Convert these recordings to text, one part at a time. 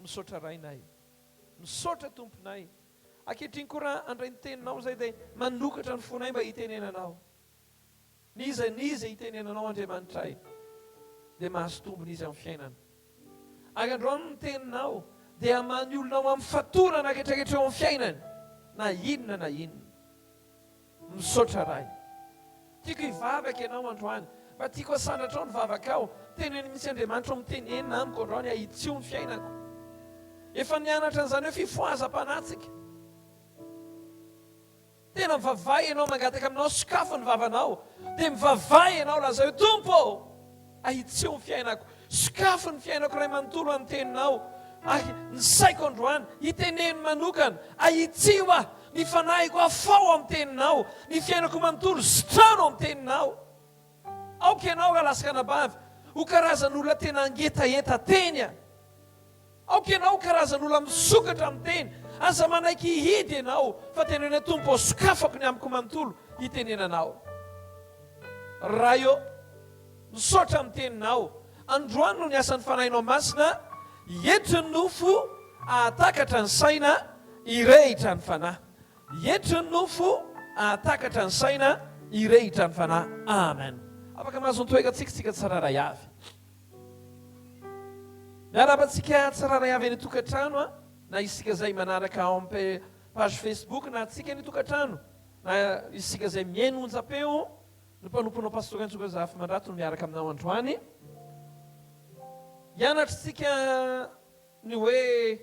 Misaotra Rainay. Misaotra Tomponay. Ankehitriny koa raha handray ny Teninao izahay dia manokatra ny fonay mba hitenenanao. N'iza n'iza hitenenanao Andriamanitray dia mahazo tombony izy amin'ny fiainana. Ary androany ny Teninao dia hamaha ny olonao amin'ny fatorana retraretra eo amin'ny fiainany na inona na inona. Misaotra Ray. Tiako hivavaka ianao androany. Mba tiako hasandratrao ny vavakao. Teneno mihitsy Andriamanitra ho mitenenina amiko androany hahitsio ny fiainako. Efa nianatra an'izany hoe fifohazam-panahy tsika. Tena mivavaha ianao mangataka aminao sokafy ny vavanao dia mivavaha ianao lazao hoe Tompo ô! Ahitseo ny fiainako. Sokafy ny fiainako Ray manontolo an'ny Teninao ahy. Ny saiko androany hiteneno manokana. Ahitsio aho. Ny fanahiko afaho amin'ny Teninao. Ny fiainako manontolo sitrano amin'ny Teninao. Aoka Ianao Ralahy sy Ranabavy ho karazan'olona tena hangetaheta Teny a! Aoka ianao ho karazan'olona misokatra amin'ny teny. Aza manaiky hihidy ianao, fa teneno hoe, Tompo ô, sokafako ny amiko manontolo hitenenana Ao. Ray ô, misaotra amin'ny Teninao. Androany no niasan'ny Fanahinao Masina hietry ny nofo hahatakatra ny saina hirehitra ny fanahy. Hietry ny nofo hahatakatra ny saina hirehitra ny fanahy. Amen. Afaka mahazo ny toekantsika isika tsirairay avy. Miarahaba antsika tsirairay avy any an-tokantrano a! Na isika izay manaraka en page Facebook na antsika any an-tokantrano, na isika izay mihaino onjam-peo ny mpanomponao Pasteur Raintsoa Razafimandrato no miaraka aminao androany. Hianatra isika ny hoe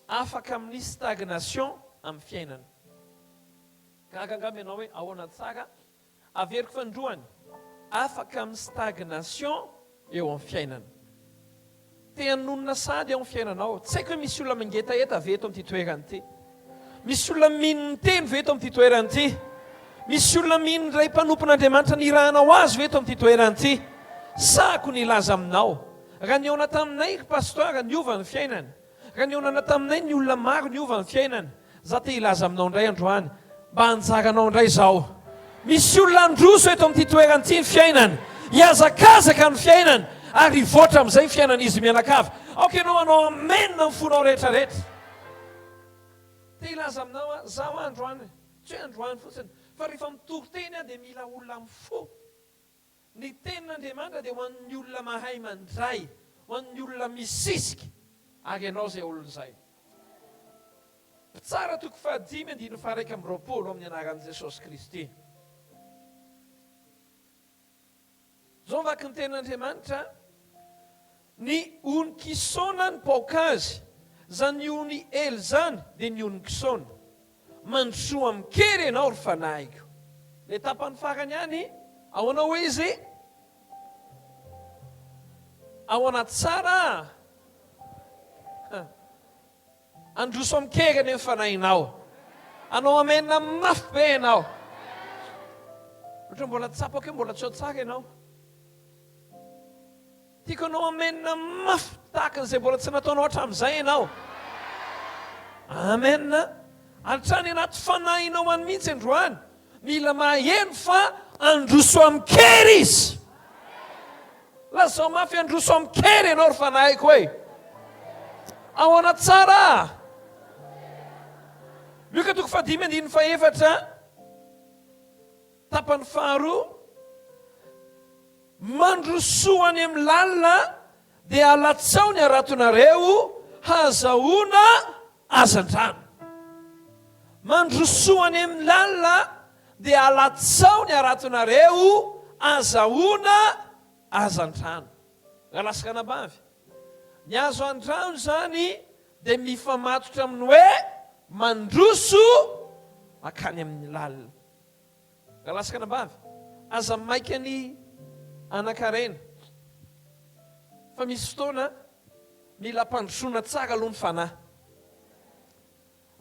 afaka amin'ny stagnation amin'ny fiainana. Gaga angamba ianao hoe ahoana tsara? Averiko fanindroany, afaka amin'ny stagnation eo amin'ny fiainana. Te hanonona sahady ao amin'ny fiainanao. Tsy haiko hoe misy olona mangetaheta ve eto amin'ity toerana ity? Misy olona mino ny Teny ve eto amin'ity toerana ity? Misy olona mino ilay mpanompon'Andriamanitra nirahana ho azy ve eto amin'ity toerana ity? Sahako ny hilaza aminao, raha nihaona taminay ry Pasteur, niova ny fiainany. Raha nihaonana taminay ny olona maro niova ny fiainany, za te hilaza aminao indray androany mba anjaranao indray izao. Misy olona handroso eto amin'ity toerana ity ny fiainany, hihazakazaka ny fiainany ary hivoatra amin'izay ny fiainan'izy mianakavy. Aoka ianao hanao amen amin'ny fonao rehetra rehetra. Te hilaza aminao aho, za hoa androany, tsy hoe androany fotsiny, fa rehefa mitory teny aho dia mila olona amin'ny fo. Ny tenin'Andriamanitra dia ho an'ny olona mahay mandray, ho an'ny olona misisika, ary ianao izay olona izay. Mpitsara toko fahadimy andininy faharaika amby roapolo amin'ny anaran'i Jesosy Kristy. Zao vaky ny tenin'Andriamanitra. Ny ony Kisona ny paoka azy, zany ony ely zany de ny ony Kisona. Mandrosoa amin-kery enao ry fanahiko. Le tapany farany any ahoana oe izy? Ahoana tsara? Handroso amin-kery anie ny fanahinao. Hanao amen mafy be ianao. Ohatra mbola tsapako hoe mbola tsy ao tsara ianao. Tiako hanao amen mafy tahaka an'izay mbola tsy nataonao hatramin'izay ianao. Amen. Hatrany anaty fanahinao any mihitsy androany. Mila maheno fa handroso amin-kery Izy. Lazao mafy handroso amin-kery ianao ry fanahiko e. Ahoana tsara? Lioka toko fahadimy andininy fahefatra, tapany faharoa, mandrosoa any amin'ny lalina Dia alatsao ny haratonareo hahazahoana hazandrano. Mandrosoa any amin'ny lalina dia alatsao ny haratonareo hahazahoana hazandrano. Alaska anabavy. Ny hazandrano izany dia mifamatotra amin'ny hoe mandroso mankany amin'ny lalina. Raha latsaka anabavy, aza maika ny hanankarena, fa misy fotoana mila ampandrosoana tsara aloha ny fanahy.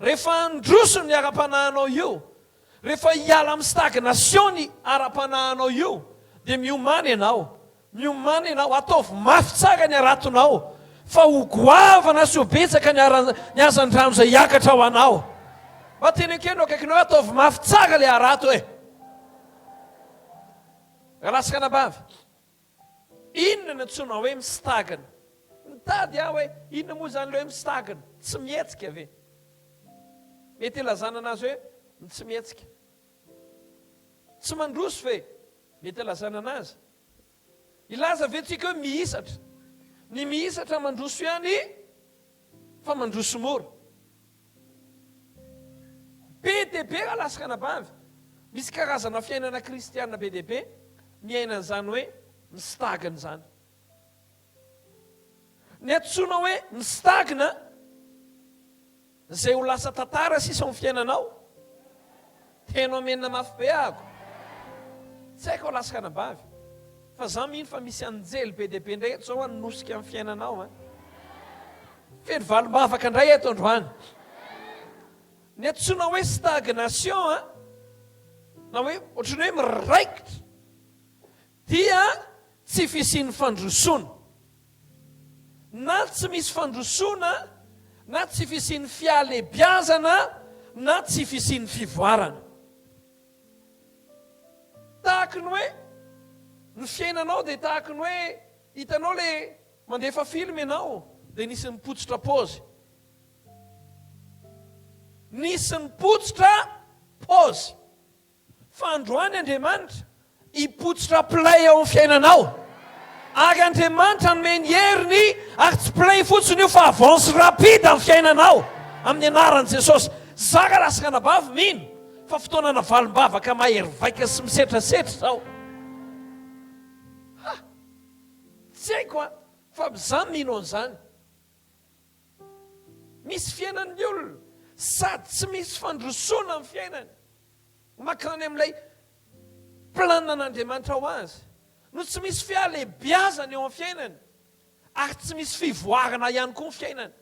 Rehefa handroso ny ara-panahinao io, rehefa hiala amin'ny stagnation ny ara-panahinao io, dia miomana ianao. Miomana ianao, ataovy mafy tsara ny haratonao, fa ho goavana sy ho betsaka ny haran, ny hazandrano izay hiakatra ho anao. Mba teneno kely eo akaikinao hoe, ataovy mafy tsara ilay harato e! Rahalahy sy ranabavy, inona no antsoinao hoe mistagna? Mitady aho hoe, inona moa izany ilay hoe mistagna? Tsy mihetsika ve? Mety ilazana anazy hoe, tsy mihetsika. Tsy mandroso ve? Mety alazana anazy. Hilaza ve tsika hoe mihisatra? Ny mihisatra mandroso ihany fa mandroso mora. Be dia be raha lasaka anabavy. Misy karazana fiainana kristiana be dia be miaina an'izany hoe mistagna izany. Ny antsoina hoe ny stagna izay ho lasa tantara sisa ao amin'ny fiainanao. Heno amena mafy be ahako. Tsy haiko alaska anabavy fa za mino fa misy anjely be dia be indray eto izao hanosika amin'ny fiainanao an. Feno valim-bavaka indray eto androany. Ny antsoina hoe stagnation an, na hoe ohatran'ny hoe miraikitra. Dia tsy fisian'ny fandrosoana, na tsy misy fandrosoana, na tsy fisian'ny fihalebiazana, na tsy fisian'ny fivoarana. Tahaka ny hoe ny fiainanao dia tahaka ny hoe hitanao le mandefa film ianao dia nisy nipotsotra paozy. Nisy nipotsotra paozy. Fa androany Andriamanitra hipotsitra play ao amin'ny fiainanao. Ary Andriamanitra hanome ny heriny, ary tsy play fotsiny io fa avance rapide amin'ny fiainanao, amin'ny anaran'i Jesosy. Zara lahy sy ranabavy mino fa fotoana navalim-bavaka mahery vaika sy misetrasetra izao. Ha! Tsy haiko an, fa za mino an'izany. Misy fiainan'ny olona sady tsy misy fandrosoana amin'ny fiainany. Mankany amin'ilay planin'Andriamanitra ho azy no tsy misy fihalehibiazana eo amin'ny fiainany ary tsy misy fivoarana ihany koa ny fiainany.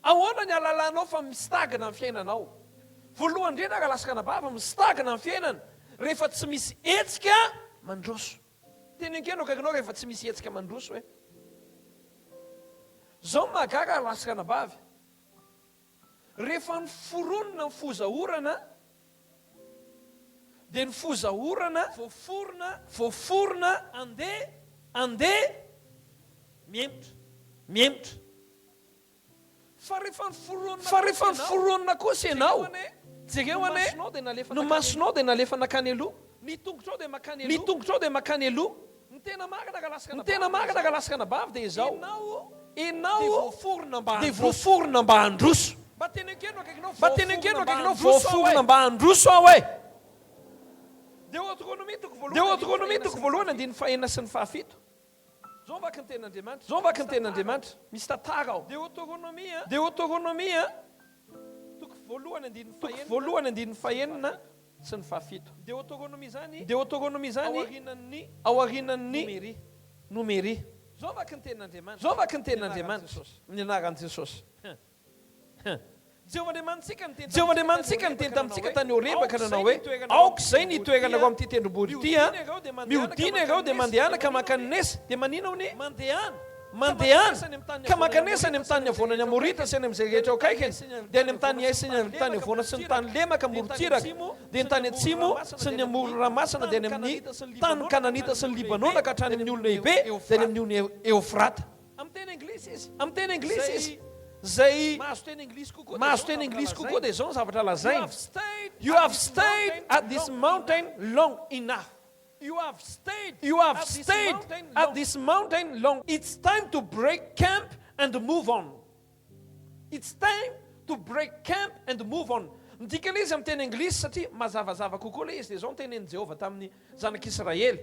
Ahoana ny halalanao fa mistagna ny fiainanao? Voalohany indrindra raha lasaka anabavy, mistagna ny fiainana rehefa tsy misy hetsika mandroso. Tena enkeno akaikinao rehefa tsy misy hetsika mandroso e. Izao ny mahagaga raha lasaka anabavy, Rehefa noforonina ny foza orana dia ny foza orana voaforona voaforona andeha andeha mihemotra mihemotra fa rehefa noforonina fa rehefa noforonina kosa ianao jereo anie ny masonao dia nalefa nakany aloha ny tongotrao dia makany aloha ny tongotrao dia makany aloha Ny tena marina ka lasaka anabavy dia izao, enao dia voaforona mba handroso. Mba teneno kely no akaikinao, voaforona mba handroso aho e! Deotronomia toko voalohany andininy fahenina sy ny fahafito. Zao ny vaky ny Tenin'Andriamanitra, misy tantara ao. Deotronomia toko voalohany andininy fahenina. sy ny fahafito. Deoteronoma izany Deoteronoma izany ao aorianan' ny Nomeria. Izao vaky ny tenin' Andriamanitra Izao vaky ny tenin' Andriamanitra ny anaran' Jesosy. Jehovah Andriamanitsika niteny tamintsika tany Horeba ka nanao hoe, Aoka izay ny hitoeranareo amin' ity tendrombohitra ity an! Mihodina ianareo dia mandehana ka maka ny nesa. Dia maninona hono? Mandehana, ka mankanesa any amin'ny tany havoana ny Amorita sy any amin'izay rehetra eo akaikiny, dia any amin'ny tany Iaisy ny any tany havoana sy ny tany lemaka amorontsiraka, dia ny tany atsimo sy ny amoron'ny ranomasina dia any amin'ny tanin'ny Kananita sy ny Libanona ka hatrany amin'ny olo-Nehibe dia any amin'ny ony Eofrata. Amin'ny teny anglisy izy. Izay mahazo teny anglisy kokoa dia izao ny zavatra lazainy, You have stayed at this mountain long enough. You have stayed You have stayed at this mountain long It's time to break camp and move on It's time to break camp and move on Midika ilay izy amin'ny teny anglisy satria mazavazava kokoa ilay izy dia izao no tenenin'i Jehovah tamin'ny zanak'Israely,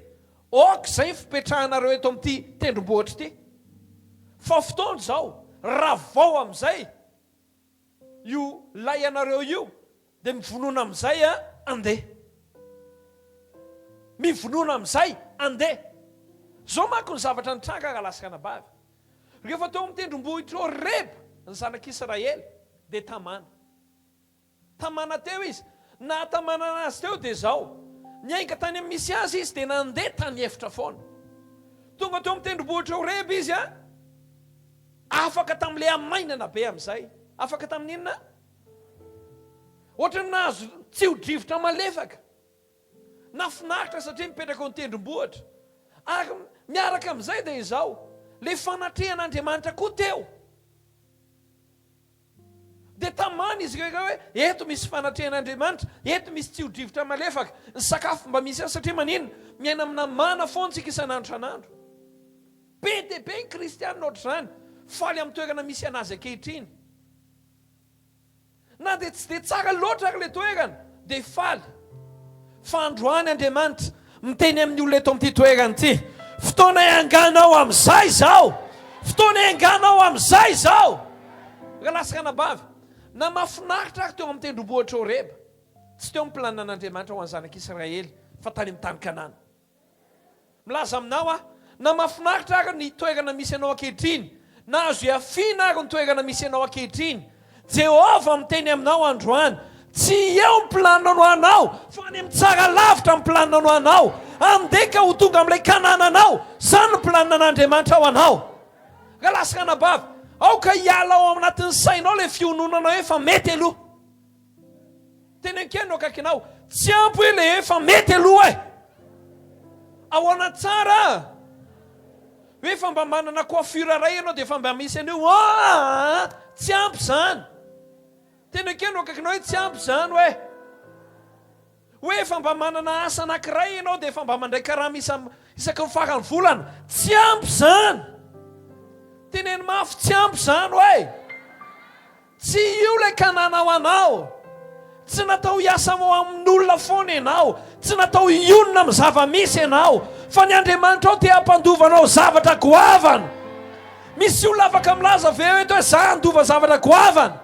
Aoka izay fipetrahanareo eto amin'ity tendrombohitra ity, fa fotoana izao, ravao amin'izay! Io lay anareo io de mivonona amizay a ande mivonona amizay ande zao manko ny zavatra nitranga ralaskanababy refa teo am tendrombohitr horeb ny zanak israely de tamana tamana teo izy nahatamana anazy teo de zao niainga tany am misy azy izy de nande tany efitra foana tonga teo am tendrombohitr horeb izy a. Afaka tamin'ilay hamainana be amin'izay. Afaka tamin'ny inona? Ohatran'ny nahazo tsio-drivotra malefaka. Nahafinaritra satria mipetraka eo an-tendrombohitra. Ary miaraka amin'izay dia izao, ilay fanatrehan'Andriamanitra koa teo. Dia tamany izy ireo iray hoe, Eto misy fanatrehan'Andriamanitra, eto misy tsiro-drivotra malefaka. Ny sakafo mba misy ihany satria maninona? Miaina amina mana foana isika isan'andro isan'andro. Be dia be ny kristiana ohatr'izany, faly amin'ny toerana misy an'azy ankehitriny. Na dia tsy dia tsara loatra ary ilay toerana, dia faly. Fa androany Andriamanitra Miteny amin'ny olona eto amin'ity toerana ity, Fotoana ianganao amin'izay izao! Fotoana ianganao amin'izay izao! Rahalahy sy ranabavy, na mahafinaritra ary teo amin'ny tendrombohitr'i Horeba, tsy teo ny planinan'Andriamanitra ho an'ny zanak'Israely fa tany amin'ny tany Kanana. Milaza aminao aho, na mahafinaritra ary ny toerana misy anao ankehitriny, na azo ihafiana ary ny toerana misy anao ankehitriny, Jehovah miteny aminao androany, Tsy eo ny planinao ho anao, fa any amin'ny tsara lavitra ny planinao ho anao. Andeha ka ho tonga amin'ilay Kanana anao. Izany no planinan'Andriamanitra ho anao. Rahalahy sy ranabavy, aoka hiala ao anatin'ny sainao ilay fiononana hoe fa mety aloha. Teny an-kiany no akaikinao. Tsy ampy hoe le efa mety aloha e! Ahoana tsara a! Hoe efa mba manana coiffure iray ianao dia efa mba misy an'io aa! Tsy ampy izany. Teny an-kiany no akaikinao hoe tsy ampy izany hoe. Hoe efa mba manana asa anankiray ianao dia efa mba mandray karama isa isaky ny faran'ny volana. Tsy ampy izany. Teneno mafy, tsy ampy izany hoe. Tsy io ilay Kanana ho anao. Tsy natao hiasa ho amin'olona foana ianao. Tsy natao hionona amin'ny zava-misy ianao. Fa ny Andriamanitrao te hampandova anao zavatra goavana. Misy olona afaka milaza ve eto hoe za handova zavatra goavana?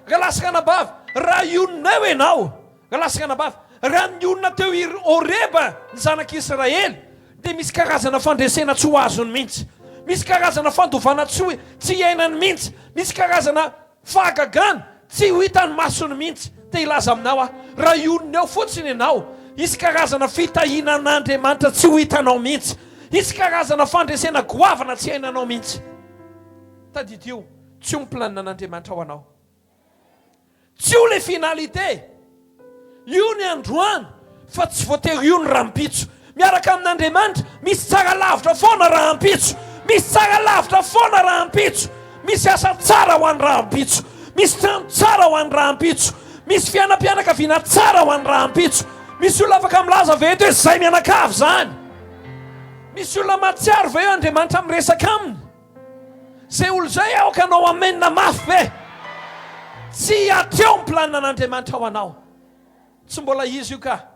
Angalasan'anabavy, raha hionona eo ianao, Lasy anabavy, Raha ny olona teo i Horeba ny zanak'i Israely dia misy karazana fandresena tsy ho azony mihitsy. Misy karazana fandovana tsy ho tsy iainany mihitsy. Misy karazana fahagagana tsy ho hitan'ny masony mihitsy. Te hilaza aminao aho, raha hionona eo fotsiny ianao, hisy karazana fitahiana an'Andriamanitra tsy ho hitanao mihitsy. Hisy karazana fandresena goavana tsy iainanao mihitsy. Tadidio, Tsy io ny planinan'Andriamanitra ho anao. Tsy io le finalité. Io ny androany fa tsy voatery io ny rampitso. Miaraka amin'Andriamanitra misy tsara lavitra foana rahampitso. Misy tsara lavitra foana rahampitso. Misy asa tsara ho an'ny rahampitso. Misy trano tsara ho an'ny rahampitso. Misy fiainam-pianakaviana tsara ho an'ny rahampitso. Misy olona afaka milaza ve eto hoe izay mianakavy izany? Misy olona mahatsiaro ve eo Andriamanitra miresaka aminy? Zay olo zay aoka anao amen mafy be. Tsy hatreo ny planina an'Andriamanitra ho anao. Tsy mbola izy io ka.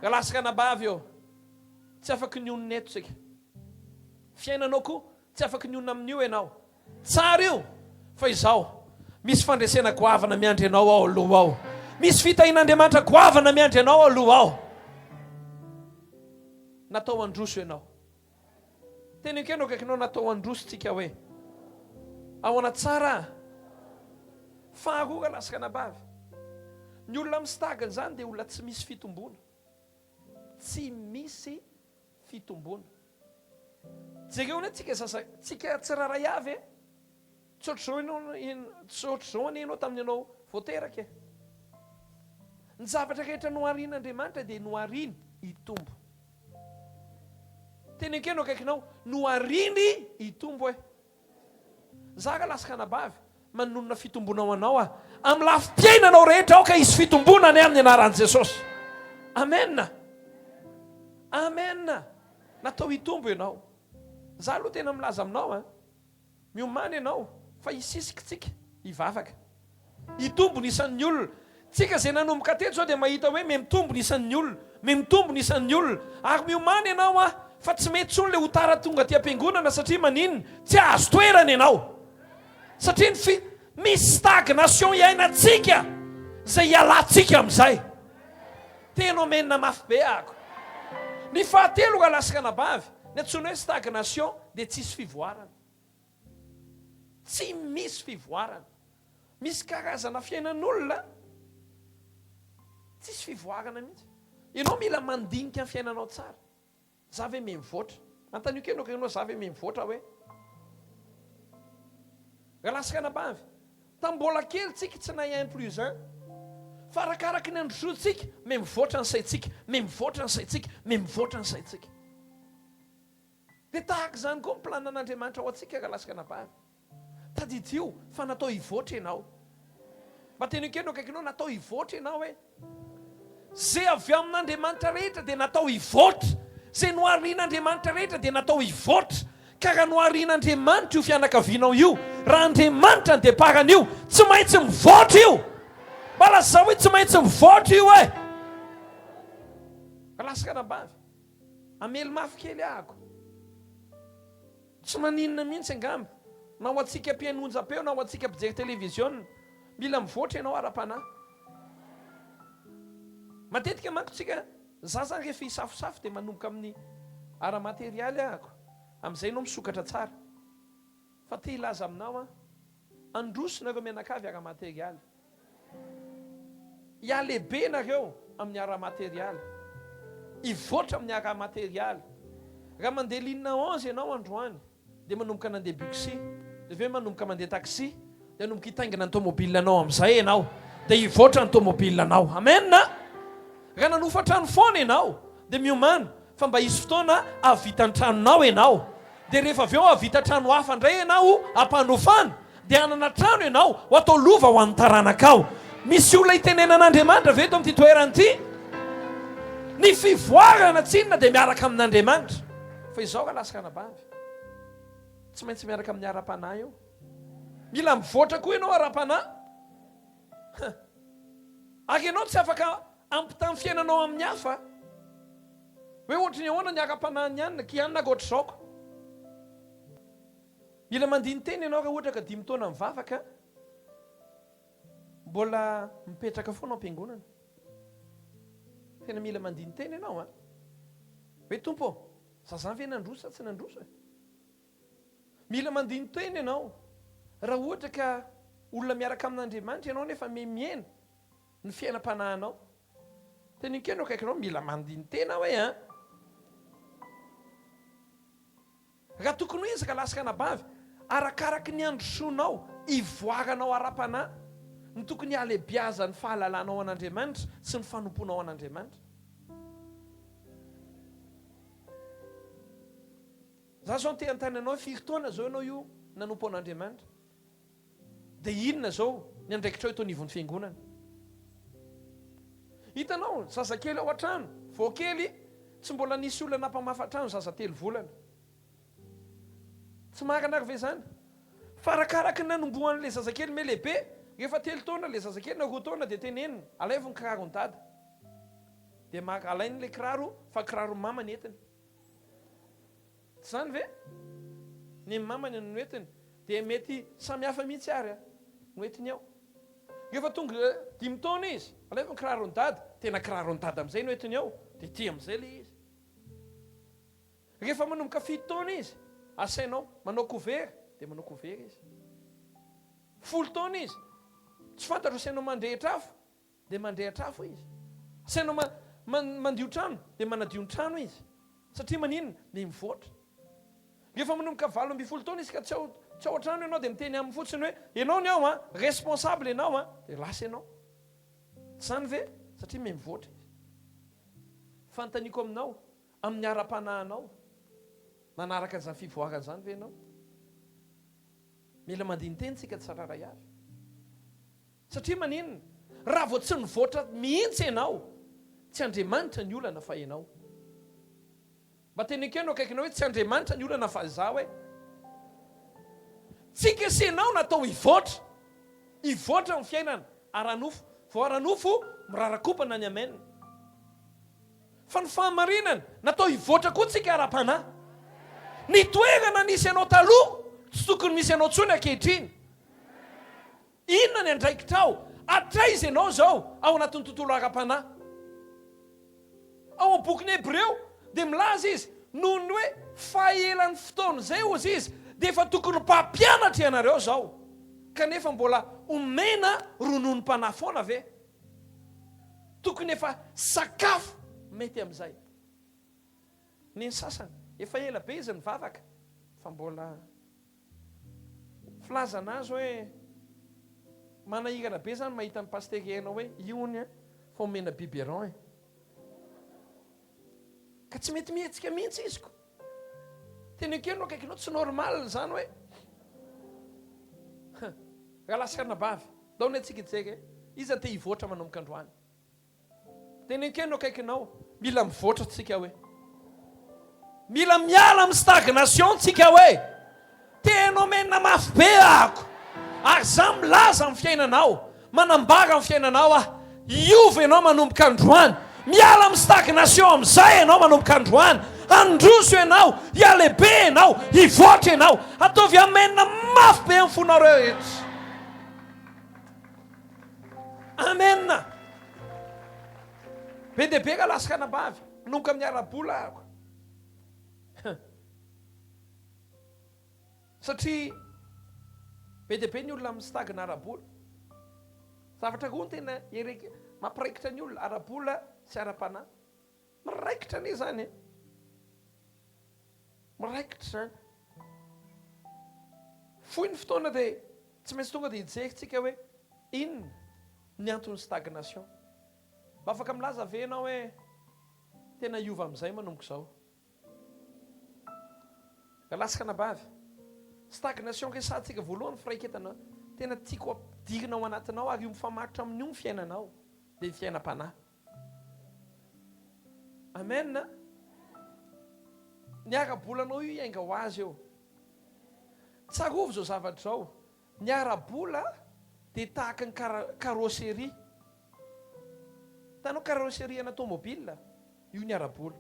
Galaska anabavy ô. Tsy afaky nionona eto tsika. Fiainanao ko tsy afaky nionona amin'io enao. Tsara io fa izao misy fandresena goavana miandry anao ao aloha ao. Misy fitahian'Andriamanitra goavana miandry anao aloha ao. Natao handroso enao. Tena ekeno akaikinao natao handroso tsika hoe ahoana tsara ah. Faharoa raha lasaka anabavy. Ny olona mistagna zany dia olona tsy misy fitomboana. Tsy misy fitomboana. Jereo anie tsika sasany, tsika tsirairay avy eh. Tsy ohatr'izao ianao, tsy ohatr'izao anie ianao tamin'ny ianao vao teraka e! Ny zavatra rehetra noharin'Andriamanitra dia nohariny hitombo. Teny ekeno akaikinao, nohariny hitombo e! Za ka laska anabavy, manonona fitomboana ho anao aho. Amin'ny lafim-piainanao rehetra aoka hisy fitomboana anie amin'ny anaran'i Jesosy. Amen! Amen! Natao hitombo ianao. Za aloha tena milaza aminao an! Miomana ianao fa hisisikitsika hivavaka. Hitombo ny isan'ny olona. Tsika izay nanomboka teto izao dia mahita hoe mihmitombo ny isan'ny olona. Mihmitombo ny isan'ny olona. Ary miomana ianao an, fa tsy mety intsony ilay ho tara tonga aty am-piangonana satria maninona? Tsy azo toerana ianao. Satria ny fi, misy stagnation iainantsika izay hialantsika amin'izay. Tena omenina mafy be ako. Ny fahatelo ka lasaka anabavy, ny antsoina hoe stagnation dia tsisy fivoarana. Tsy misy fivoarana. Misy karazana fiainan'olona tsisy fivoarana mihitsy. Ianao mila mandinika ny fiainanao tsara. Za ve me mivoatra? Antanio kely ok enao za ve me mivoatra hoe Galasika anabavy? Tam mbola kely tsika tsy nahay un plus un fa arakaraky ny androsoantsika me mivoatra ny saintsika me mivoatra ny saintsika me mivoatra ny saintsika de tahaka izany koa ny plan an'Andriamanitra ho antsika Galasika anabavy. Tadidio fa natao hivoatra ianao. Mba teneno kely no akaikinao, natao hivoatra ianao e. Izay avy amin'Andriamanitra rehetra dia natao hivoatra. Izay noharian'Andriamanitra rehetra dia natao hivoatra. Ka raha noharian'Andriamanitra io fianakavianao io, raha Andriamanitra no départ an'io, tsy maintsy mivoatra io. Mba lazao hoe tsy maintsy mivoatra io e. Raskana ambavy. Amely mafy kely ahako. Tsy maninona mihitsy angamba na ho antsika mpiheno onjam-peo na ho antsika mpijery televiziona. Mila mivoatra ianao ara-panahy. Matetika manko tsika zaza rehefa hisafosafo dia manomboka amin'ny ara-materialy ahako, amin'izay ianao misokatra tsara. Fa te hilaza aminao aho, handroso nareo mianakavy ara-materialy. Hihalehibe ianareo amin'ny ara-materialy. Hivoatra amin'ny ara-materialy. Raha mandeha ligne onze ianao androany, dia manomboka nandeha bixi, dia avy eo manomboka mandeha taxi, dia hanomboka hitaingina ny tomobilanao amin'izay ianao, dia hivoatra ny tomobilanao. Amen! Raha nanofa trano foana ianao, dia miomàna, Fa mba hisy fotoana hahavita ny tranonao ianao. Dia rehefa avy eo hahavita trano hafa indray ianao ho ampanofana. Dia hanana trano ianao ho atao lova ho an'ny taranakao. Misy olona itenenan'Andriamanitra ve eto amin'ity toerana ity? Ny fivoarana tsinona dia miaraka amin'Andriamanitra. Fa izao raha lasaka anabavy, tsy maintsy miaraka amin'ny ara-panahy eo. Mila mivoatra koa ianao ara-panahy. Ary ianao tsy afaka. Ampità ny fiainanao amin'ny hafa. Hoe ohatry ny ahoana ny ara-panahin'i Anna? Kianna ko ohatr'izao ko. Mila mandini-tena ianao raha ohatra ka dimy taona mivavaka, mbola mipetraka foana ao am-piangonana. Tena mila mandini-tena ianao an! Hoe Tompo ô, za zany ve nandroso sa tsy nandroso e? Mila mandini-tena ianao raha ohatra ka olona miaraka amin'Andriamanitra ianao nefa mihemiena Ny fiainam-panahinao. Dia ny enkeno akaikinao mila mandini-tena hoe an! Raha tokony ho ezaka lahy sy anabavy, arakaraky ny handrosoanao, hivoaranao ara-panahy, ny tokony halebiazan'ny fahalalanao an'Andriamanitra sy ny fanompoanao an'Andriamanitra. Za zao te hanontany anao hoe firy taona zao ianao io nanompo an'Andriamanitra? Dia inona izao ny andraikitrao eto anivon'ny Fiangonana? Hitanao, zazakely ao an-trano, vao kely, tsy mbola nisy olona nampamafy trano, zaza telo volana. Tsy marina ary ve izany? Fa arakaraky ny nanombohan'ilay zazakely me lehibe, rehefa telo taona ilay zazakely na roa taona dia tenenina, alaivo ny kiraron'i Dada. Dia maka, alainy ilay kiraro fa kiraron'i Mama ny entiny. Tsy izany ve? Ny mamany no noentiny, dia mety samy hafa mihitsy ary an! Noentiny ao. Rehefa tonga dimy taona izy, alefa ny kiraron'i Dada, tena kiraron'i Dada amin'izay no entiny ao, dia tia amin'izay ilay izy. Rehefa manomboka fito taona izy, asainao manao cover, dia manao cover izy. Folo taona izy, tsy fantatro asainao mandrehitra afo, dia mandrehitra afo izy. Sainao ma, ma, mandio trano, dia manadio ny trano izy. Satria maninona? Dia mivoatra. Rehefa manomboka valo ambin'ny folo taona izy ka tsy ao, tsy ao an-trano ianao, dia miteny aminy fotsiny hoe, Ianao ny ao an! Responsable ianao an! Dia lasa ianao. Tsy izany ve? Satria me mivoatra izy. Fanontaniako aminao, amin'ny ara-panahinao, manaraka an'izany fivoarana izany ve ianao? Mila mandini-teny isika tsirairay avy. Satria maninona? Raha vao tsy nivoatra mihitsy ianao, tsy Andriamanitra ny olana fa ianao. Mba teny ekeo no akaikinao hoe tsy Andriamanitra ny olana fa izaho e. Tsy kesenao natao hivoatra, hivoatra ny fiainana ara-nofo, vao ara-nofo mirarakopana ny amen. Fa ny fahamarinana, natao hivoatra koa tsika ara-panahy. Ny toerana nisy anao taloha, tsy tokony misy anao intsony ankehitriny. Inona ny andraikitrao? Hatraiza ianao izao ao anatin'ny tontolo ara-panahy? Ao amin'ny bokin'ny Hebreo dia milaza izy, noho ny hoe fahaelan'ny fotoana izay hozy izy dia efa tokony mpampianatra ianareo izao, kanefa mbola omena rononom-panahy foana ve? Tokony efa sakafo mety amin'izay. Ny sasany efa ela be izy nivavaka fa mbola. Filazana azy hoe manahirana be zany mahita an'i Pasitera Hery hoe io hono an fa omena biberon e. Ka tsy mety mihetsika mihitsy izy ko. Tena ekeo no akaikinao tsy normal zany hoe Rahalahy sy anabavy, ndao anie tsika hijery iza te hivoatra manomboka androany. Tenenkeino akaikinao, mila mivoatra tsika hoe. Mila miala amin'ny stagnation tsika hoe. Tena omenina mafy be ahako ary za milaza amin'ny fiainanao, manambara amin'ny fiainanao aho, hiova ianao manomboka androany, miala amin'ny stagnation amin'izay ianao manomboka androany, handroso ianao, hihalehibe ianao, hivoatra ianao, ataovy hamenona mafy be ny fonareo rehetra. Amen! Be dia be ka lasaka anabavy, manomboka amin'ny ara-bola araka. Satria be dia be ny olona amin'ny stagna ara-bola. Zavatra koa tena mampiraikitra ny olona, ara-bola sy ara-panahy. Miraikitra anie zany e! Miraikitra zany. Fohy ny fotoana dia tsy maintsy tonga dia hijery tsika hoe inona ny anton'ny stagnation. Mba afaka milaza ve ianao hoe tena hiova amin'izay manomboka izao? Galaska anabavy, stagnation resahantsika voalohany firaiketana tena tiako ampidirina ao anatinao ary io mifamaritra amin'io ny fiainanao dia ny fiainam-panahy. Amen a! Ny ara-bolanao io hiainga ho azy eo. Tsarovy izao zavatra izao, ny ara-bola dia tahaka ny carrosserie. Hitanao carrosserie ana tomobile? Io ny ara-bola.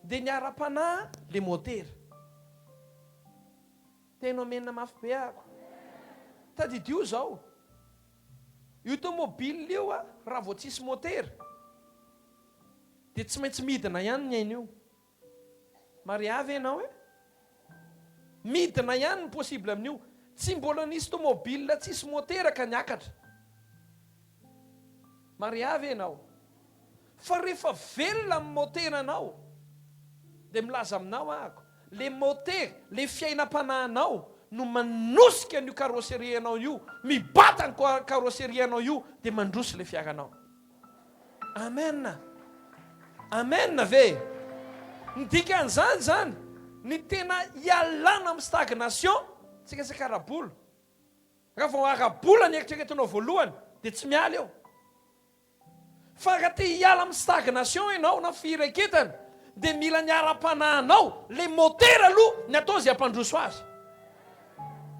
Dia ny ara-panahy ilay motera. Tena omenina mafy be ako. Tadidio zao. Io tomobile io a raha vao tsisy motera dia tsy maintsy midina ihany ny ainy io. Maria ve enao e? Midina ihany ny possible amin'io. Tsy mbola nisy tomobile tsisy motera ka niakatra. Maria ve enao? Fa refa velona am motera anao de milaza aminao ahako le moter le fiainam-panahinao no manosika an'io carrosserie anao io mibata ny carrosserie anao io de mandroso le fiaranao Amen Amen ve ny dikan'izany zany ny tena ialana am stagnation tsy resaka ara-bola raha vao ara-bola ny eritreretinao voalohany de tsy miala eo. Fa raha te hiala amin'ny stagnation ianao na fihireketana dia mila ny ara-panahinao, ilay motera aloha ny atao izay hampandroso azy.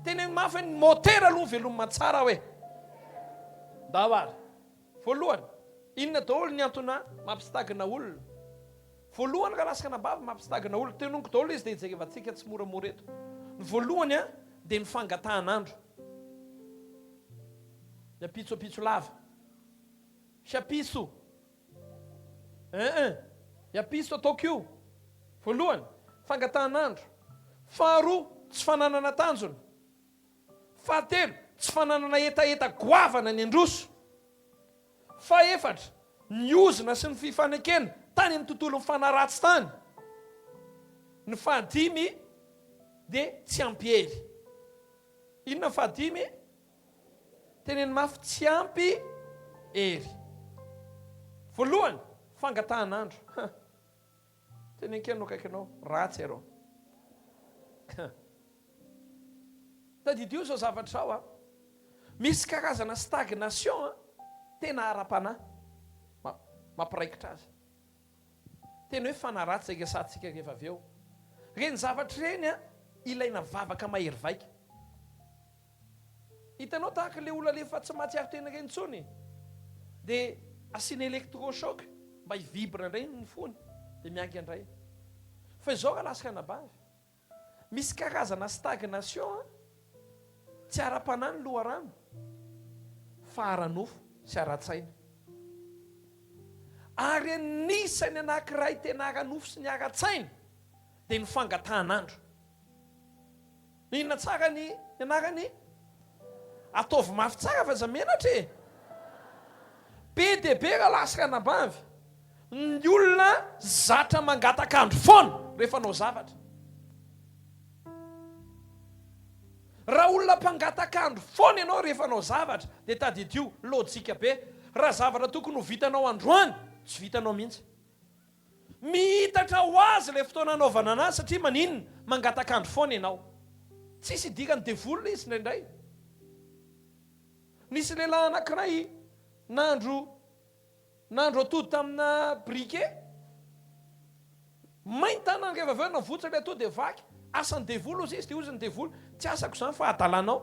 Teneno mafy hoe ny motera aloha ny veloma tsara hoe. Ndao ary. Voalohany, inona daholo ny antona mampistagna olona? Voalohany raha lasaka anabavy mampistagna olona, tenoniko daholo izy dia jerevantsika tsimoramora eto. Ny voalohany an, dia ny fangatahan'andro. Ny ampitso ampitso lava. Chapiso eeh Iapiso ataoko io Voalohany, fangatahan'andro Faharoa, tsy fananana tanjona Fahatelo, tsy fananana hetaheta goavana ny handroso Fahefatra, ny ozona sy ny fifanekena tany amin'ny tontolon'ny fanahy ratsy tany Ny fahadimy dia tsy ampy hery Inona ny fahadimy? Teneno mafy tsy ampy hery. Voalohany, fangatahan'andro. Huh. Teneno kely no akaikinao, ratsy iareo. Huh. Tadidio izao zavatra izao an. Misy karazana stagnation an, tena ara-panahy. Mampiraikitra azy. Tena hoe fanaratsy izay resahantsika rehefa avy eo. Ireny zavatra ireny ilaina vavaka mahery vaika. Hitanao tahaka ilay olona le efa tsy mahatsiaro tena ireny intsony e, dia asiana electro choc mba hi-vibre indray ny fony dia miainga indray. Fa izao raha latsaka anabavy, Misy karazana stagnation an! Tsy ara-panahy ny loharano fa ara-nofo sy ara-tsaina. Ary anisan'ny anankiray tena ara-nofo sy ny ara-tsaina dia ny fangatahan'andro. Inona tsara ny anarany? Ataovy mafy tsara fa aza menatra e! Be dia be ralahy sy ranabavy ny olona zatra mangataka andro foana rehefa hanao zavatra. Raha olona mpangataka andro foana ianao rehefa hanao zavatra dia tadidio, lojika be, raha zavatra tokony ho vitanao androany tsy vitanao mihitsy. Mihitatra ho azy ilay fotoana hanaovana an'azy satria maninona? Mangataka andro foana ianao. Tsisy idiran'ny devoly izy indraindray. Nisy lehilahy anankiray nandro nandro atody tamina briquet. May ny tanany rehefa avy eo navotsa ilay atody dia vaky. Asan'ny devoly hozy izy dia hozy ny devoly, tsy asako izany fa adalanao.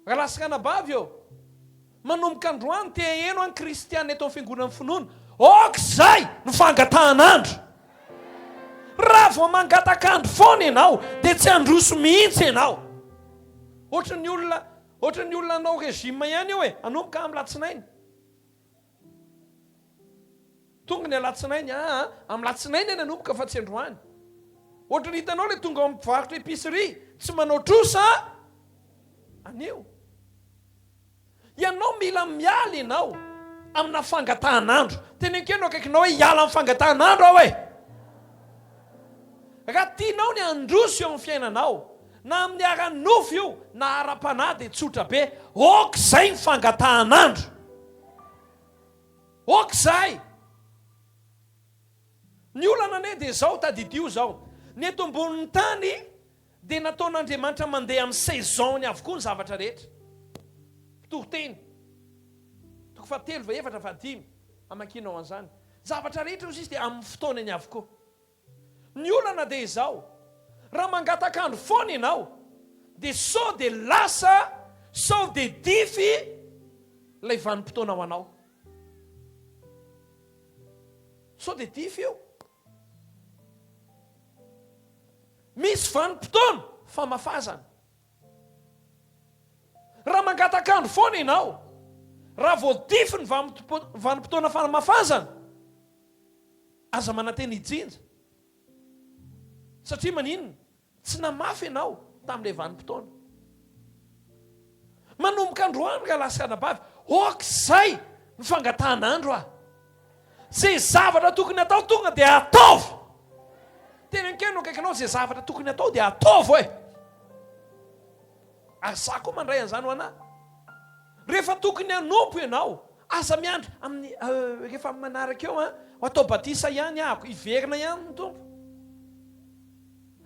Rahalahy sy ranabavy ô! Manomboka androany te haheno ahy ny kristiana eto amin'ny fiangonan'ny finoana. Aoka izay no fangatahan'andro. Raha vao mangataka andro foana ianao dia tsy handroso mihitsy ianao. Ohatran'ny olona, ohatran'ny olona hanao régime ihany eo e, hanomboka amin'ny latsinainy. Tonga ny alatsinainy aa am latsinainy any anomboka fa tsy androany ohatry ny hitanao le tonga ao am mpivarotra epicerie tsy manao trosa anio ianao mila miala ianao amina fangatahan'andro tenenko ianao akaikinao hoe hiala am fangatahan'andro aho e raha tianao ny handroso eo am fiainanao na amin'ny ara nofo io na ara panahy dia tsotra be ok zay ny fangatahan'andro Ok zay! Ny olana anie dia izao, tadidio izao, ny eto ambonin'ny tany dia nataon'Andriamanitra mandeha amin'ny saison-ny avokoa ny zavatra rehetra. Mpitoriteny, toko fahatelo, fahefatra, fahadimy, amakinao an'izany. Zavatra rehetra hoy izy dia amin'ny fotoanany avokoa. Ny olana dia izao, raha mangataka andro foana ianao dia sao dia lasa sao dia dify ilay vanim-potoana ho anao. Sao dia dify io. Misy vanim-potoana famafazana. Raha mangataka andro foana ianao, raha vao dify ny vanim-potoana famafazana, Aza manantena hijinja. Satria maninona? Tsy namafy ianao tamin'ilay vanim-potoana. Manomboka androany rahalahy sy anabavy, ok zay ny fangatahan'andro a! Ze zavatra tokony atao tonga dia ataovy! Teny an-keno akaikinao, ze zavatra tokony atao dia ataovy oe! Ary za koa mandray an'izany ho anah. Rehefa tokony hanompo ianao, aza miandry amin'ny rehefa amin'ny manaraka eo an, atao batisa ihany ahako, hiverina ihany ny Tompo.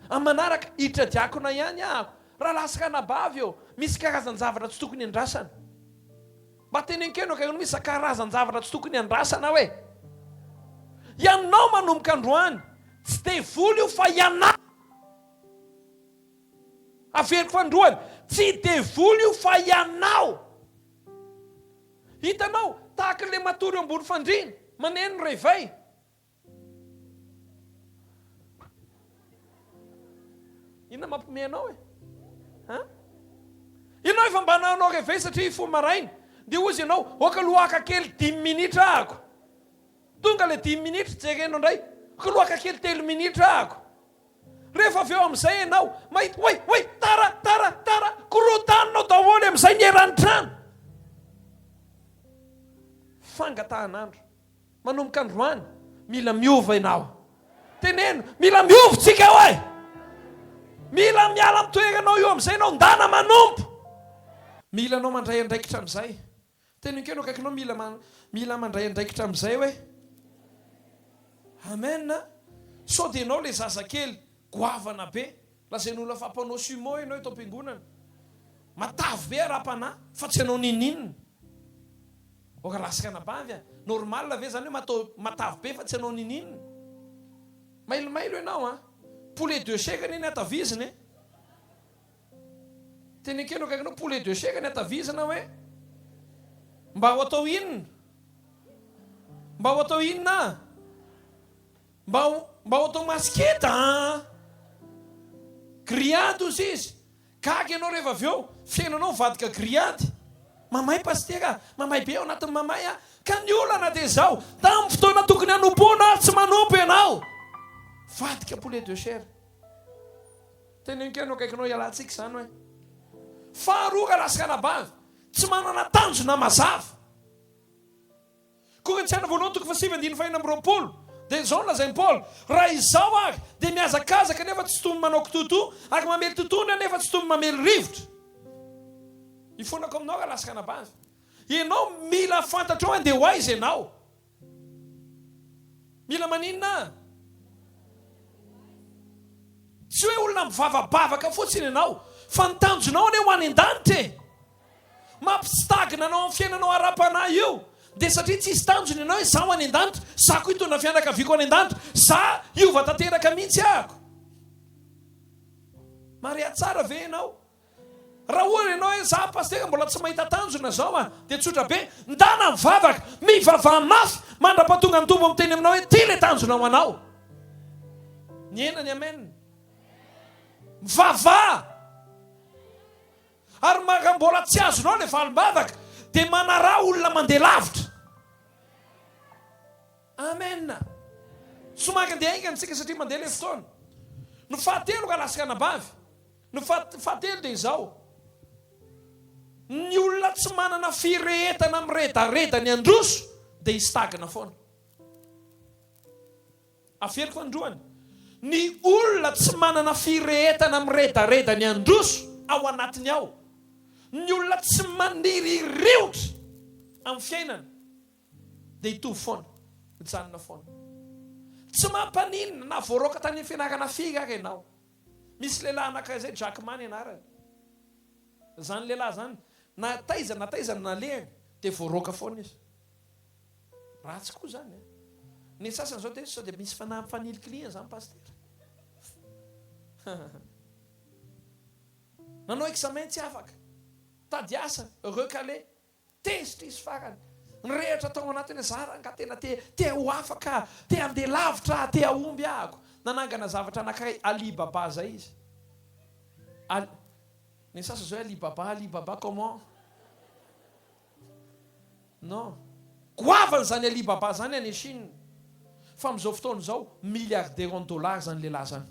Amin'ny manaraka, hiditra diakona ihany ahako. Rahalahy sy ranabavy ô, misy karazan-javatra tsy tokony andrasana. Mba tenenkenao kay, hono misy za karazan-javatra tsy tokony andrasana hoe. Ianao manomboka androany, tsy devoly io fa ianao. Averiko androany, tsy devoly io fa ianao! Hitanao, tahaka ilay matory eo ambony fandriana, maneno ny réveil. Inona mampiomehy anao e? Hein? Ianao efa mba nanao réveil satria hifoha maraina, dia hozy ianao, ok aloha haka kely dimy minitra ahako. Tonga ilay dimy minitra, jerena indray, ok aloha haka kely telo minitra ahako. Rehefa avy eo amin'izay ianao mahita hoe hoe tara tara tara, korontaninao daholo amin'izay ny eran'ny trano. Fangatahan'andro manomboka androany, mila miova ianao. Teneno, mila miova tsika hoe. Mila miala amin'ny toeranao io amin'izay ianao, ndana manompo. Mila anao mandray andraikitra amin'izay. Teny enkeo no akaikinao mila mila mandray andraikitra amin'izay hoe Amen a! Sao dia ianao ilay zazakely goavana be, lazain'ny olona fa mpanao sumo ianao eto am-piangonana. Matavy be ara-panahy fa tsy hanao ninininona. Aoka lasaka anabavy a! Normal ve izany hoe matao matavy be fa tsy hanao ninininona? Mailomailo ianao a! Poulet de chair anie ny hatavizina e! Teny akelo akaiky anao poulet de chèque ny atavisa na hoe mba ho atao inona? Mba ho atao inona? Mba ho mba ho atao masiketa an! Grillade hozy izy. Gaga ianao rehefa avy eo, fiainanao mivadika grillade. Mamay pasitera, mamay be ao anatin'ny mamay an! Ka ny olana dia izao, tamin'ny fotoana tokony hanompoanao ary tsy manompo ianao, mivadika poulet de chair. Tena enkeno akaikinao hialantsika izany hoe. Faharoa ka lasy kanabandy tsy manana tanjona mazava. Korintiana voalohany toko fahasivy andininy fahenina amby roapolo dia izao no lazain'i Paoly, raha izaho ary dia mihazakazaka nefa tsy toy ny manao kitoatoa ary mamely totohondry aho nefa tsy toy ny mamely rivotra. Ifonako aminao ra lasy kanabandy. Ianao mila fantatrao andeha ho aiza ianao. Mila maninona? Tsy hoe olona mivavabavaka fotsiny ianao, fa ny tanjonao anie ho any an-danitra e! Mampitsitagina anao amin'ny fiainanao ara-panahy io, dia satria tsisy tanjona ianao hoe za ho any an-danitra, za koa hitondra ny fianakaviako any an-danitra, za hiova tanteraka mihitsy ako. Maria tsara ve ianao? Raha ohatra ianao hoe za pasitera mbola tsy mahita tanjona zao a! dia tsotra be, ndana mivavaka, mivavaha mafy mandrapatonga ny Tompo miteny aminao hoe ty le tanjona ho anao. Nihena ny amen. Mivavaha! Ary raha mbola tsy azonao le valim-bavaka dia manaraha olona mandeha lavitra. Amen. Somary andeha haingana tsika satria mandeha le fotoana. Ny fahatelo ka lasy ka anabavy. Ny fahatelo dia izao, ny olona tsy manana firehetana miredareda ny handroso dia histagna foana. Averiko androany, ny olona tsy manana firehetana miredareda ny handroso ao anatiny ao, ny olona tsy maniry hiriotra amin'ny fiainana dia hitovy foana, hijanona foana. Tsy mampaninona na voaroaka tany amin'ny fianarana firy ary ianao. Misy lehilahy anankiray izay Jack Ma ny anarany. Izany lehilahy izany, na taiza na taiza no nalehany dia voaroaka foana izy. Ratsy koa izany an! Ny sasany izao dia sao dia misy fanahy mifanilikilihina izany Pasitera. Nanao examen tsy afaka, tady asa, recaler, Tezitra izy farany. Ny rehatra tao anatiny zah rangah tena te te ho afaka ah, te handeha lavitra ah, te hahomby ah ako. Nanangana zavatra anankiray Ali Baba zay izy. Al. Ny sasany zao hoe Ali Baba, Ali Baba comment? Non. Goavana zany Ali Baba zany any Chine. Fa amin'izao fotoana izao milliardaire en dollars zany lehilahy zany.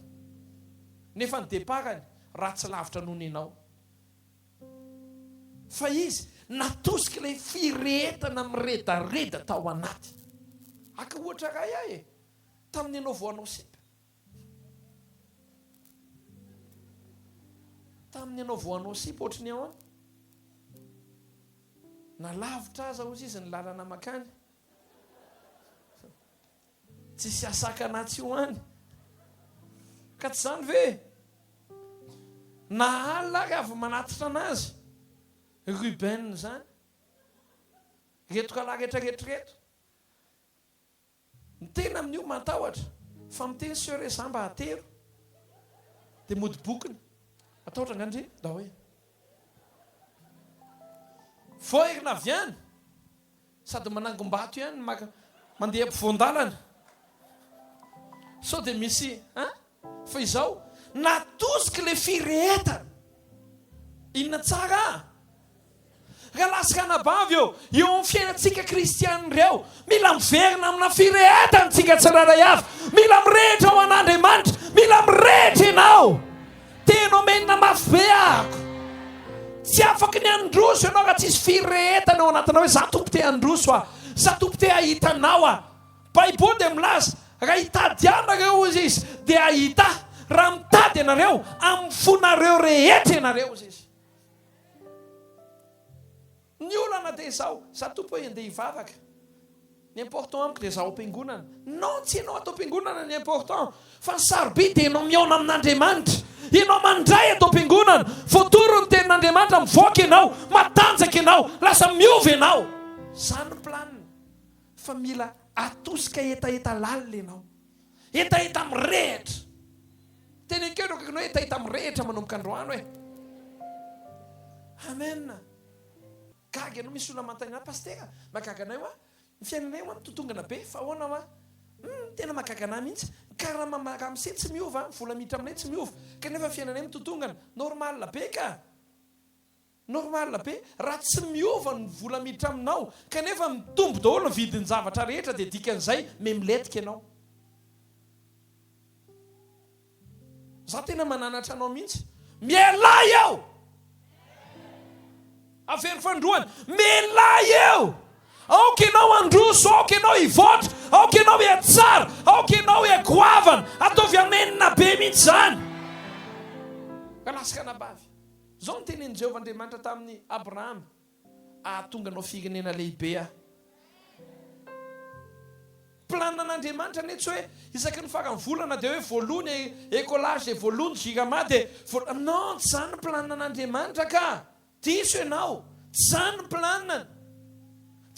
Nefa ny départ-ny ratsy lavitra noho nenao. Fa izy natosika ilay firehetana miredareda tao anaty. Haka ohatra iray aho e, tamin'ny ianao vao hanao sipa. Tamin'ny ianao vao hanao sipa ohatry ny ahoana? Na lavitra aza hozy izy ny lalana makany. Tsisy hasakana atsy ho any. Ka tsy izany ve? Na alina ary avy manatitra anazy Ruben izany. Ireto kalahy rehetra rehetra ireto. Ny tena amin'io matahotra fa miteny soeur hoe za mba atero. Dia mody bokony. Matahotra angaha ndry ndao e. Voaherina avy any. Sady manangom-bato ihany maka mandeha ampovoan-dalana sao dia misy a! Fa izao natosiky le firehetana inona tsara a! Raha lasitra anabavy eo eo amin'ny fiainantsika kristiana ireo, mila miverina amina firehetana tsika tsirairay avy, mila mirehitra ho an'Andriamanitra, mila mirehitra ianao. Tena omenina mafy be ahako. Tsy afaka ny handroso ianao raha tsisy firehetana ao anatinao hoe, za Tompo te handroso aho, za Tompo te hahita anao aho. Baiboly dia milaza, raha hitady ahy nareo hozy izy dia hahita ahy, raha mitady ianareo amin'ny fonareo rehetra ianareo hozy izy. Ny olana dia izao, za tompoko hoe andeha hivavaka, ny important amiko dia za ao am-piangonana. Non, tsy ianao ato am-piangonana ny important, fa ny sarobidy dia ianao mihaona amin'Andriamanitra. Ianao mandray ato am-piangonana, voatoro ny tenin'Andriamanitra, mivoaka ianao, matanjaka ianao, lasa miova ianao. Zany ny planiny, fa mila atosika hetaheta lalina ianao. Hetaheta mirehitra. Teny an-keo ireo akaikinao hoe hetaheta mirehitra manomboka androany hoe. Amen. Gaga ianao, misy olona manontany anao, Pasitera, mahagaga anay hoa, ny fiainanay hoa mitotongana be, fa ahoana hoa? Hum, tena mahagaga anay mihitsy. Ny karama ma- ramse tsy miova, ny vola miditra aminay tsy miova, kanefa ny fiainanay mitotongana. Normal be ka! Normal be, raha tsy miova ny vola miditra aminao kanefa mitombo daholo ny vidin'ny zavatra rehetra dia dikan'izay memiletika ianao. Za tena mananatra anao mihitsy. Mialay eo! Avero fandroana. Mialay eo! Aoka ianao handroso, aoka ianao hivoatra, aoka ianao hiatsara, aoka ianao hiagoavana. Ataovy anenina be mihitsy izany. Ka lasaka anabavy. Izao no tenenin'i Jehovah Andriamanitra tamin'i Abrahama, Hahatonga anao firenena lehibe Aho. Planin'Andriamanitra anie tsy hoe isaky ny faran'ny volana dia hoe voaloa ny écolage dia voaloa ny jirama dia voaloa. Non, tsy izany ny planin'Andriamanitra ka. Diso ianao. Tsy izany ny planin'Ny.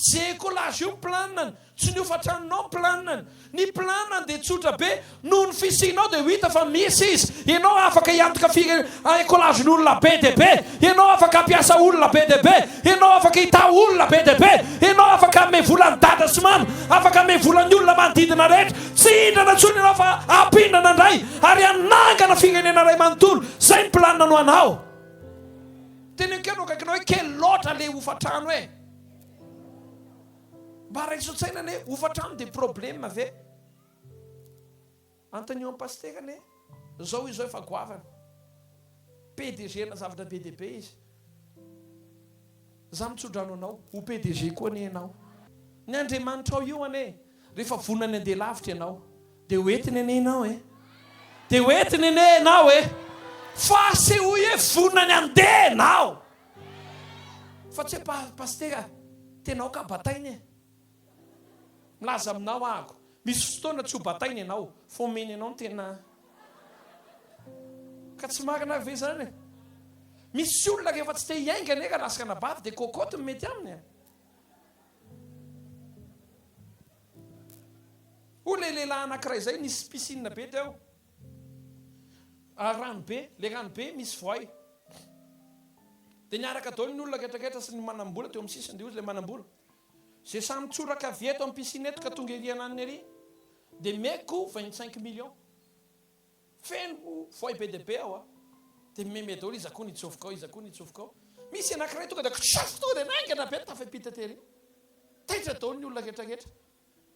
Tsy écolage io ny planany, tsy ny hofan-tranonao ny planany. Ny planany dia tsotra be, noho ny fisianao dia ho hita fa misy izy. Ianao afaka hiantoka firenena, écolage ny olona be dia be, ianao afaka hampiasa olona be dia be, ianao afaka hitaha olona be dia be, ianao afaka hanome vola an'i dada sy mama, afaka hanome vola ny olona manodidina rehetra. Tsy hindrana intsony ianao fa hampindrana indray ary hanangana firenena iray manontolo. Izay ny planany ho anao. Teneniko ihany ho akaikinao hoe kely loatra ilay hofan-trano e! Mba raiso an-tsaina anie, hofantrano dia problème ve? Antonio an'i Pasitera anie, izao izy izao efa goavana. PDG-na zavatra be dia be izy. Izaho mitso-drano anao, ho PDG koa anie ianao. Ny Andriamanitrao io anie, rehefa vonona ny handeha lavitra ianao, Dia ho entiny anie ianao e! Dia ho entiny anie ianao e! Fa asehoy hoe vonona ny handeha ianao. Fa tsy hoe Pasitera, tena aoka bataina e! Milaza aminao ahako, misy fotoana tsy ho bataina ianao, fa omeny anao ny tena. Ka tsy marina ary ve izany e? Misy olona rehefa tsy te hiainga anie raha lasaka anabavy dia cocotte no mety aminy e! Hoy ilay lehilahy anankiray izay, nisy piscine be teo, rano be, ilay rano be misy voay. Dia niaraka daholo ny olona retraretra sy ny manam-bola teo amin'ny sisiny, dia hoy ilay manam-bola, izay samy tsoraka avy eto amin'ny piscine eto ka tonga ery ananiny ery dia meko vingt cinq millions. Feno voay be dia be aho dia mimeme daholo iza koa ny hitsofoka ao, iza koa ny hitsofoka ao. Misy anankiray tonga dia kitrasiko tonga dia naingana be ny tafaipita tery. Taitra daholo ny olona rehetra rehetra.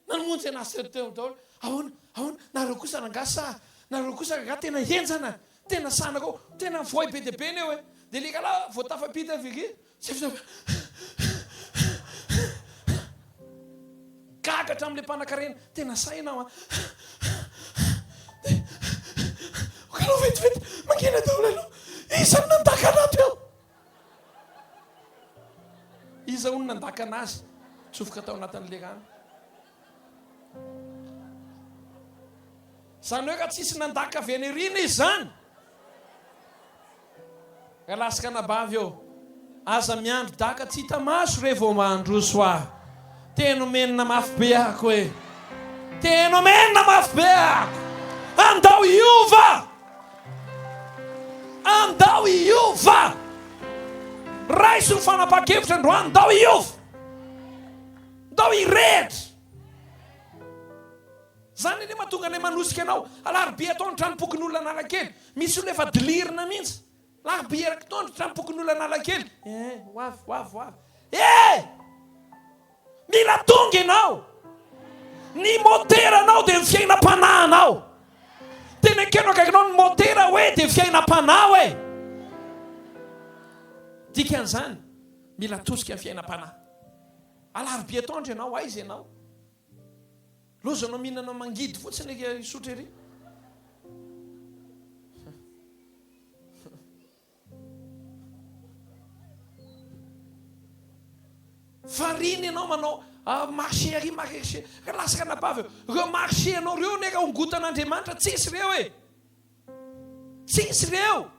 Namonjy an'ahy sy ireo teo daholo. Ahoana, ahoana, nareo kosa rangahy sa, nareo kosa rangahy tena henjana, tena sanakao, tena voay be dia be ny eo e. Dia ilay rahalahy vao tafaipita avy ery Tsy fizaka. Gaga hatramin'ilay mpanakarena. Tena sahy ianao an. Dia okanao vetivety mangina daholo aloha. Iza no nandaka anao teo? Iza hono nandaka anazy? Tsofoka tao anatin'ilay rano. Zany hoe ka tsisy nandaka avy any arina izy zany? Ka laska anabavy ô! Aza miandry daka tsy hita maso re vao mandroso ah! Tena omenina mafy be ako eh! Tena omenina mafy be ako! Andao hiova! Andao hiova! Raiso ny fanapahan-kevitra androany, andao hiova! Ndao hirehitra! Zany anie mahatonga anay manosika anao. Alarobia atao ny tranompokon'olona Analakely. Misy olona efa dilirina mihitsy. Alarobia eraky tao ny tranompokon'olona Analakely. Eh, ho avy, ho avy, ho avy. Eh! Mila tonga ianao! Ny moteranao dia ny fiainam-panahinao. Tena ekeno akaikinao ny motera hoe dia fiainam-panahy hoe. Dikan'izany, mila atosika ny fiainam-panahy. Alarobia atoandro ianao aiza ianao? Lozanao mihinana mangidy fotsiny eky Isotry ery. Variana ianao manao ah, marché ary marché ka lasaka anabavy ireo marché anao ireo neka hongotan'Andriamanitra tsisy ireo e tsisy ireo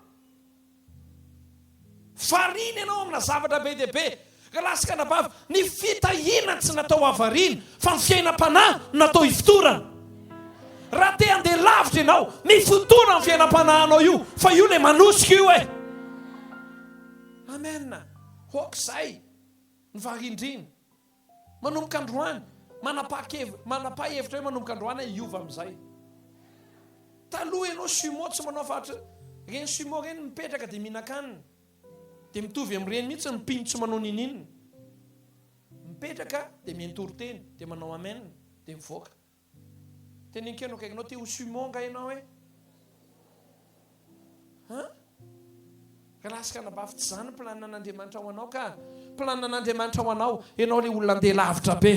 Variana ianao amina zavatra be dia be, rahalahy sy anabavy, ny fitahiana tsy natao havariana fa ny fiainam-panahy no natao hifotorana. Raha te handeha lavitra ianao, mifotora amin'ny fiainam-panahinao io fa io ilay manosika io e. Amen, hoak'izay ny varindrina. Manomboka androany, manapakevitra, manapaha hevitra hoe manomboka androany aho hiova amin'izay. Taloha ianao sumo tsy manao fa ireny sumo ireny mipetraka dia mihinan-kanina. Dia mitovy amin'ireny mihitsy ny mpino tsy manao n'inon'inona. Mipetraka dia miha-mitory teny, dia manao amen, dia mivoaka. Teny enkeno akaikinao te ho sumo nga enao e? Hein? Raha kanabavy tsy zany plan an'Andriamanitra ho anao ka. Plan an'Andriamanitra ho anao, enao le olona andeha lavitra be.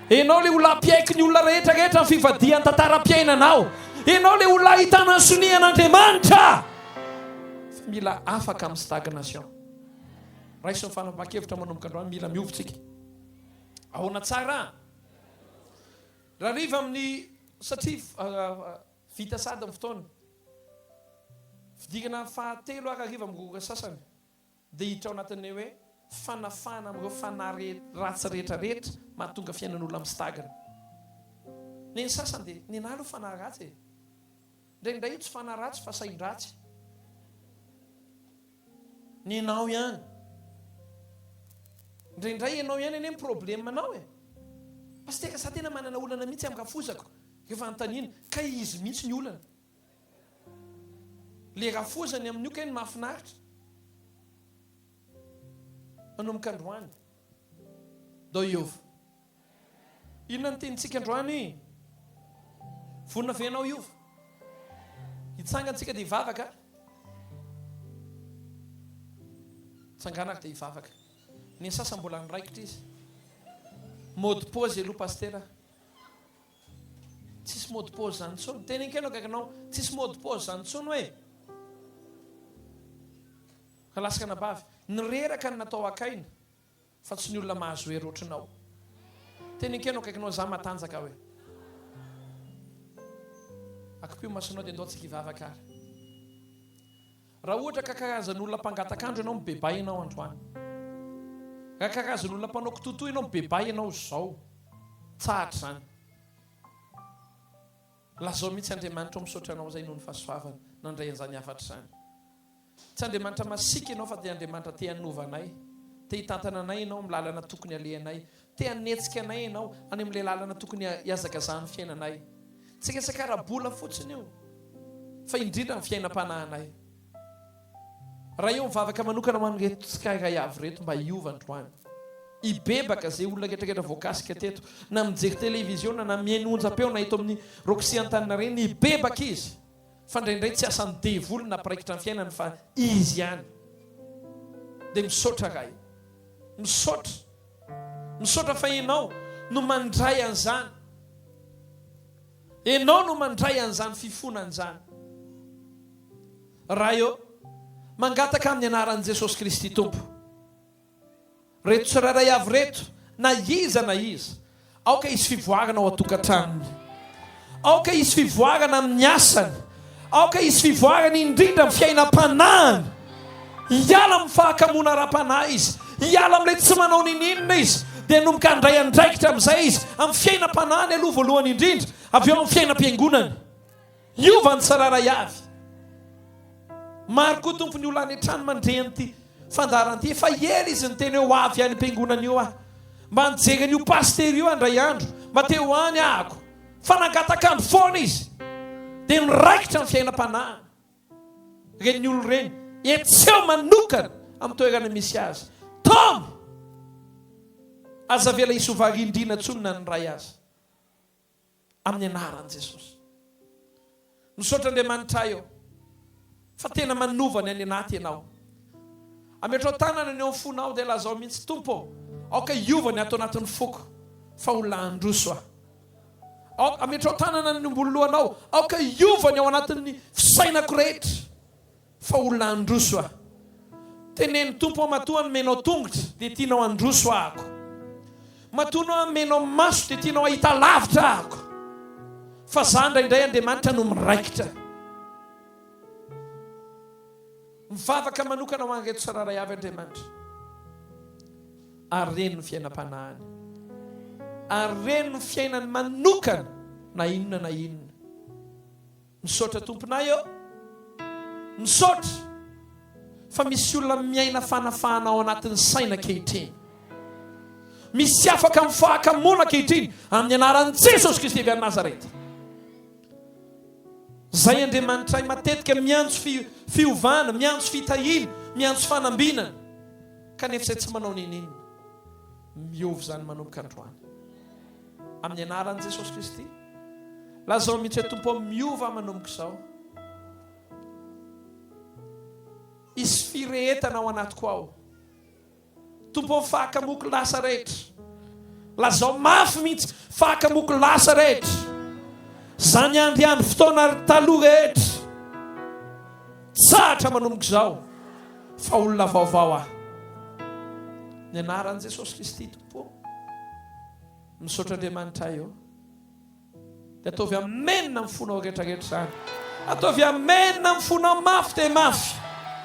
Enao le olona ampiaiky ny olona rehetra rehetra ny fivadihan tantaram-piainanao. Enao le olona ahitana ny sonia an'Andriamanitra. Fa mila afaka amin'ny stagnation. Raiso ny fanapahan-kevitra manomboka androany mila miovy tsika. Ahoana tsara? Rariva amin'ny satria vita sahady ny fotoana. Fidirana fahatelo ary hariva amin'ny roa ora sasany dia hiditra ao anatin'ny hoe fanafahana amin'ireo fanahy ratsy rehetra rehetra mahatonga fiainan'olona mistagna. Ny an'ny sasany dia, Nenaha aloha fanahy ratsy e! Indraindray tsy fanaratsy fa sain-dratsy nenao ihany. Indraindray enao ihany anie ny problemanao e. Pasiteka za tena manana olana mihitsy am rafozako rehefa anontaniana kay izy mihitsy ny olana. Le rafozany amin'io kay no mahafinaritra. Manomboka androany. Dao Iova. Inona no tenintsika androany? Vonona ve ianao hiova? Hitsangana tsika dia hivavaka. Tsangana ary dia hivavaka. Ny asasa mbola niraikitra izy. Mody pause aloha Pasitera. Tsisy mody pause zany tsony. Teny enkeno akaikinao, tsisy mody pause zany tsony hoe. Alaska anabavy. Nireraka ny natao akaina. Fa tsy ny olona mahazo hery ohatranao. Teny enkeno akaikinao zah matanjaka hoe. Akipio masonao dia ndao tsika hivavaka ary. Raha ohatra ka karazan'olona mpangatak'andro ianao mibebay ianao androany. Raha karazan'olona mpanao kitotoa ianao mibebay ianao izao. Tsahatra izany. Lazao mihitsy Andriamanitra ao misaotra anao izay noho ny fahasoavana nandray an'izany hafatra izany. Tsy Andriamanitra masiaka Ianao fa dia Andriamanitra te hanova anay, te hitantana anay Ianao amin'ny lalana tokony halehanay, te hanetsika anay Ianao any amin'ilay lalana tokony hihazakazahan'ny fiainanay. Tsy resaka ara-bola fotsiny io fa indrindra ny fiainam-panahinay. Raha eo mivavaka manokana ho an'ireto tsirairay avy ireto mba hiova androany. Hibebaka izay olona rehetra rehetra voakasika teto, na mijery televiziona na mihaino onjam-peo na eto amin'ny Roxy Antaninarenina, hibebaka izy. fa indraindray tsy asan'ny devoly nampiraikitra ny fiainany fa izy ihany dia misaotra ray misaotra misaotra fa ianao no mandray an'izany ianao no mandray an'izany fifona an'izany ray ô mangataka amin'ny anaran'i Jesosy Kristy Tompo Reto tsirairay avy reto, na iza na iza, aoka hisy fivoarana ao an-tokantranony. Aoka hisy fivoarana amin'ny asany. Aoka hisy fivoarana indrindra amin'ny fiainam-panahiny. Hiala amin'ny fahakamoana ara-panahy izy. Hiala amin'ilay tsy manao ninininona izy. Dia hanomboka handray andraikitra amin'izay izy, amin'ny fiainam-panahiny aloha voalohany indrindra, avy eo amin'ny fiainam-piangonany. Hiova ny tsirairay avy. Maro koa Tompo ny olona any an-trano mandre an'ity fandaharana ity. Efa ela izy niteny hoe ho avy any am-piangonana eo aho. Mba nijery an'io pasitera io aho indray andro, mba te ho any ahako. Fa nangatak'andro foana izy, dia niraikitra ny fiainam-panahiny. Ireny olona ireny, hetseho manokana amin'ny toerana misy azy. Tom! Aza avela hisy ho varindriana intsony na ny iray aza. amin'ny anaran'i Jesosy. Misaotra Andriamanitra ahy ô, fa tena manova ny any anaty ianao. Ametrao tanana ny eo amin'ny fonao dia lazao mihitsy, Tompo ô, aoka hiova ny ato anatin'ny foko, fa olona handroso aho. Aoka, ametrao tanana ny omboloanao, aoka hiova ny ao anatin'ny fisainako rehetra. Fa olona handroso aho. Teneno Tompo aho matoa nomenao tongotra dia tianao handroso ahako. Matoa nomenao maso dia tianao hahita lavitra ahako. Fa za indraindray Andriamanitra no miraikitra. Mivavaka manokana ho an'ireto tsirairay avy Andriamanitra. Ary reny ny fiainam-panahiny. Ary reny ny fiainany manokana na inona na inona. Misaotra tomponay ô! Misaotra fa misy olona miaina fanafahana ao anatin'ny saina ankehitriny. Misy afaka amin'ny fahakamoana ankehitriny amin'ny anaran'i Jesosy Kristy avy any Nazareta. Zay Andriamanitray matetika miantso fi, fiovana, miantso fitahiana, miantso fanambinana. Kanefa izay tsy manao n'inon'inona. Miova izany manomboka androany. Amin'ny anaran'i Jesosy Kristy, lazao mihitsy hoe Tompo ô, miova aho manomboka izao. Hisy firehetana ao anatiko ao. Tompo ô, faka moko lasa rehetra. Lazao mafy mihitsy, faka moko lasa rehetra. Zany andry andry fotoana taloha rehetra. Tsahatra manomboka izao fa olona vaovao aho. Ny anaran'i Jesosy Kristy Pô. Misaotra Andriamanitra ahy ô. Dia ataovy amen amin'ny fonao rehetrarehetra izany. Ataovy amen amin'ny fonao mafy dia mafy.